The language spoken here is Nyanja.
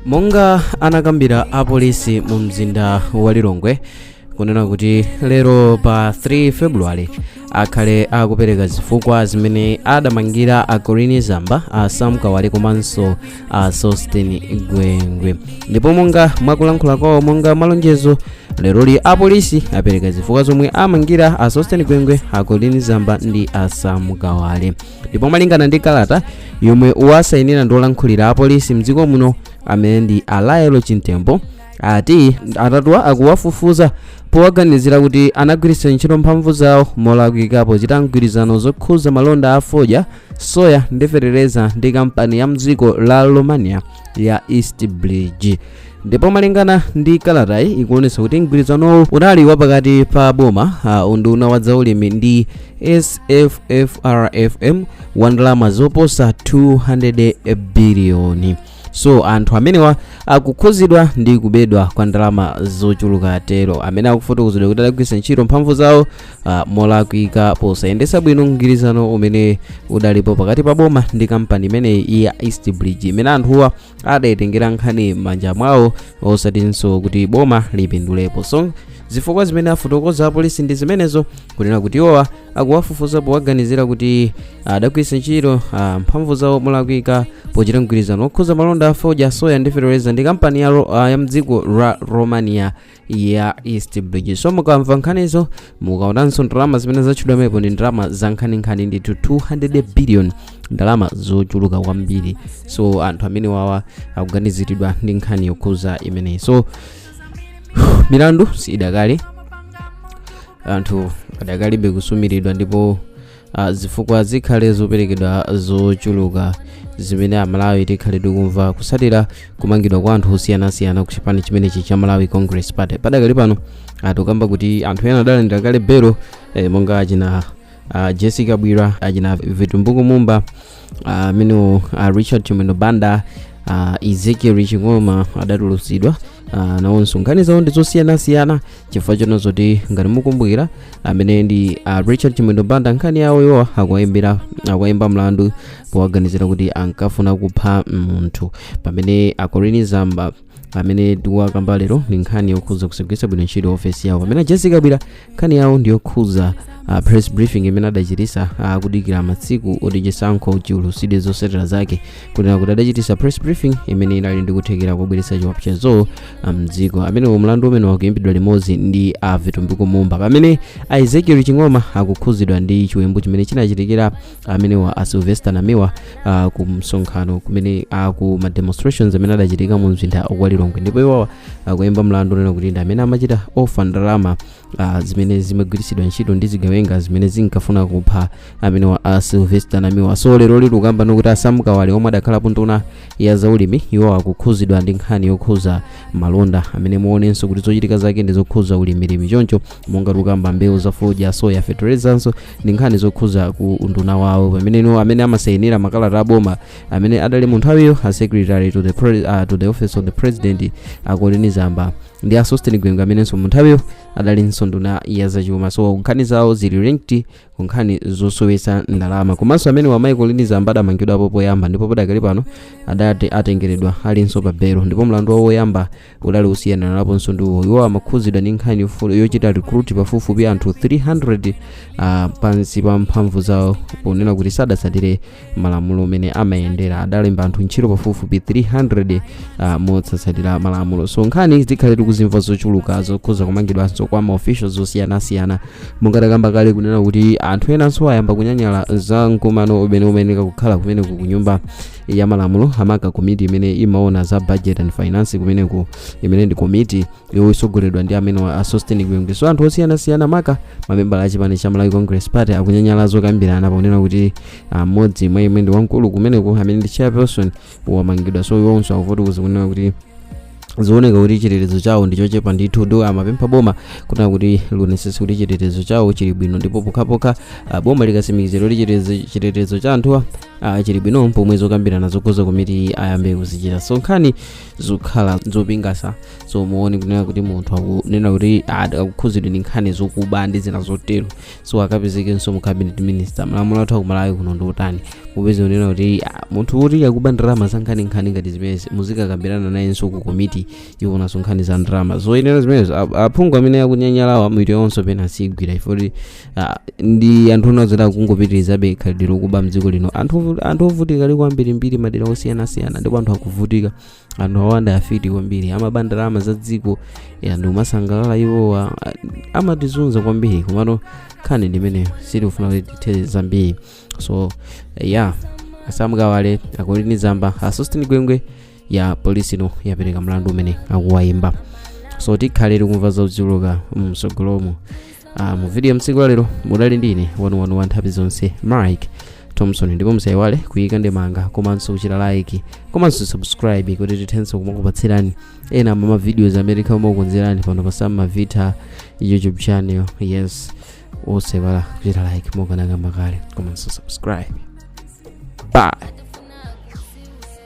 monga anakambira apolisi mu mzinda wa lilongwe kunena kuti lero pa 3 februwale akhale akupereka zifukwa zimene adamangira a colleen zamba a sam kawale komanso a sosten gwengwe ndipo monga mwakulankhula kwawo monga malonjezo leroli apolisi apereka zifukwa zomwe amangira a sosten gwengwe a colleen zamba ndi a sam kawale ndipo malingana ndi kalata yomwe wasainira ndi olankhulira apolisi mdziko muno amene ndi a lael chimtembo ati atatuwa akuwafufuza powaganizira kuti anagwiritsa ntchito mphamvu zawo molakwika pochita mgwirizano zokhuza malonda a fodya soya ndi fetereza ndi kampani ya mdziko la romania ya east bridge ndipo malingana ndi kalatayi ikuonetsa kuti mgwirizanowu unali wapakati pa boma uh, unduna wa zaulimi ndi sffrfm wa ndalama zoposa 200 biliyoni so anthu amenewa akukhuzidwa ndi kubedwa kwa ndalama zochuluka tero amene akufotokozedwa kuti adagwiritsa ntchito mphamvu zawo ah, molakwika posayendetsa bwino mgwirizano umene udalipo pakati pa boma ndi kampani imeneyi ya east bridge imene anthuwa adayitengera nkhani m'manja mwawo osatinso kuti boma lipindulepo so zifukwa zimene afotokoza apolisi ndi zimenezo kunena kuti iwowa akuwafufuza powaganizira kuti adagwiritsa ntchito ah, mphamvu zawo molakwika pochita mgwirizano okhuza malonda a fodya soya ndi fetereza ndi kampani ya, ro- ah, ya mdziko la romania ya east bridge so mukamva nkhanizo mukaonanso ndalama zimene zatchulidwa pamenepo ndi ndalama za nkhaninkhani ndithu 200 billion ndalama zochuluka kwambiri so anthu amenewawa akuganiziridwa ndi nkhani yokhuza imeneyi so milandu si idakali anthu adakalibe kusumiridwa ndipo Ah, zifukwa zikhale zoperekedwa zochuluka zimene amalawi tikhale tikumva kusatira kumangidwa kwa anthu osiyanasiyana ku chipani chimenechi cha malawi congress party padakali pano tikukamba kuti anthu ena adalandira kale belo eh, monga achina ah, jessie kabwila achina vitumbiko mumba ah, amene a richard chimwendo banda a ezekiel ching'oma adatulutsidwa uh, nawonso nkhani zawo ndi zosiyanasiyana chifukwa chona zoti ngati mukumbukira amene ndi a richard chimwendo banda nkhani yawo iwo akuwaimba mlandu powaganizira kuti ankafuna kupha munthu pamene a colleen zamba amene tikuwakamba lero ndi nkhani yokhudza kusagwiritsa bwino ntchito ofesi yawo pamene a jessie kabwila nkhani yawo ndi yokhudza uh, press briefing imene adachitisa uh, kudikira matsiku oti chisankho chiulutsidwe zotsatira zake kunena kuti adachitisa press briefing imene inali ndi kuthekera kobweretsa chiwopsezo mdziko amenewo mlandu umene akuyimbidwa limodzi ndi a vitumbiko mumba pamene a ezekiel ching'oma akukhudzidwa ndi chiwembu chimene chinachitikira amenewa a sylvester namiwa uh, ku msonkhano kumene uh, ku ma demonstrations amene adachitika mu mzinda wa lilongwe ndipo iwowa akuyimba uh, mlandu onena kuti ndi amene amachita ofa ndalama uh, zimene zimagwiritsidwa ntchito ndi zigawenga zimene zinkafuna kupha amenewa a sylvester namiwa so lero tikukamba kuti a sam kawale omwe adakhalapo nduna ya zaulimi iwo akukhuzidwa ndi nkhani yokhuza malonda amene muonenso kuti zochitika zake ndi zokhuza ulimilimi choncho monga tukamba mbewu za fodya soya feterezanso ndi nkhani zokhuza ku unduna wawo pamene amene amasayinira makalata aboma amene adali mu nthawiyo a secretary to the, pre, uh, to the office of the president a colleen zamba ndi a sosten gwengwe amenenso mu nthawiyo adalinso nduna ya zachuma so nkhani zawo zili linked ku nkhani zosowetsa ndalama komanso amenewa a colleen zamba adamangidwapo poyamba ndipo padakali pano adati atengeredwa alinso pa belo ndipo mlandu wawo woyamba udali osiyaniranaponso ndi uwo iwo amakhudzidwa ndi nkhani yofu- yochita recruit pafupifupi anthu 300 ah, pansi pa mphamvu zawo ponena kuti sadatsatire malamulo amene amayendera adalemba anthu ntchito pafupifupi 300 ah, motsatsatira malamulo so nkhani zikhale tikuzimva zochuluka zokhuza kumangidwanso kwa maofficials osiyanasiyana monga takamba kale kunena kuti anthu enanso ayamba kunyanyala za mkumano umene umayenera kukhala kumeneko kunyumba ya malamulo amaka komiti imene imaona za budget and finance kumeneko imene ndi komiti yosogoleredwa ndi amenewa a sosten gwengwe so anthu osiyanasiyana maka mamembala a chipani cha malawi congress party akunyanyala zokambirana ponena kuti ah, mmodzi mwa iwo amene ndi wamkulu kumeneko amene ndi chairperson wamangidwa so iwonso akufotokoza kunena kuti zooneka kuti chitetezo chawo ndi chochepa ndithu ndipo amapempha boma kunena kuti lionetsetse kuti chitetezo chawo chili bwino ndipo pokhapokha ah, boma likatsimikizira kuti chitetezo- chitetezo cha anthuwa ah, chili bwino pomwe zokambirana zokhuza komiti ayambe kuzichita so nkhani zokhala zopingasa so muone kunena kuti munthu akunena kuti ah, akukhudzidwa ndi nkhani zokuba ndi zina zotero so akapezekenso mu cabinet minister malamulo athu akumalawi kuno ndi otani mupeze kunena kuti ah, munthu woti akuba ndalama za nkhaninkhani ngati zimenezi muzikakambirana nayenso ku komiti yoonanso nkhani za ndalama zoyenera zimenezo ap- aphungu amene akunyanyalawa mwito yonso pena asigwira ifoti ah, ndi anthu ona zoti akungopitirizabe khalidwe lokuba mdziko lino anthu ovu- anthu ovutika ali ambirimbiri madera osiyanasiyana ndipo anthu akuvutika anthu awanda afiti kwambiri amaba ndalama za dziko ya ndi kumasangalala iwowa a- amatizunza kwambiri komano nkhani ndimeneyo sitikufuna kuti tithe zambiri so ya a sam kawale a colleen zamba a sosten gwengwe ya polisi ino yapereka mlandu umene akuwayimba so tikhale tikumva zochuluka mtsogolomo Ah, mu video ya tsiku la lero mudali ndi ine wanu wanu wa nthawi zonse mike thompson ndipo musaiwale kuyika ndemanga komanso kuchita like komanso subscribe kuti tithenso kumakupatsirani ena mwa mavideos amene tikhala kumakukonzerani pano pa samma vita youtube channel yes osaiwala kuchita like mukanena mwakonda komanso subscribe bye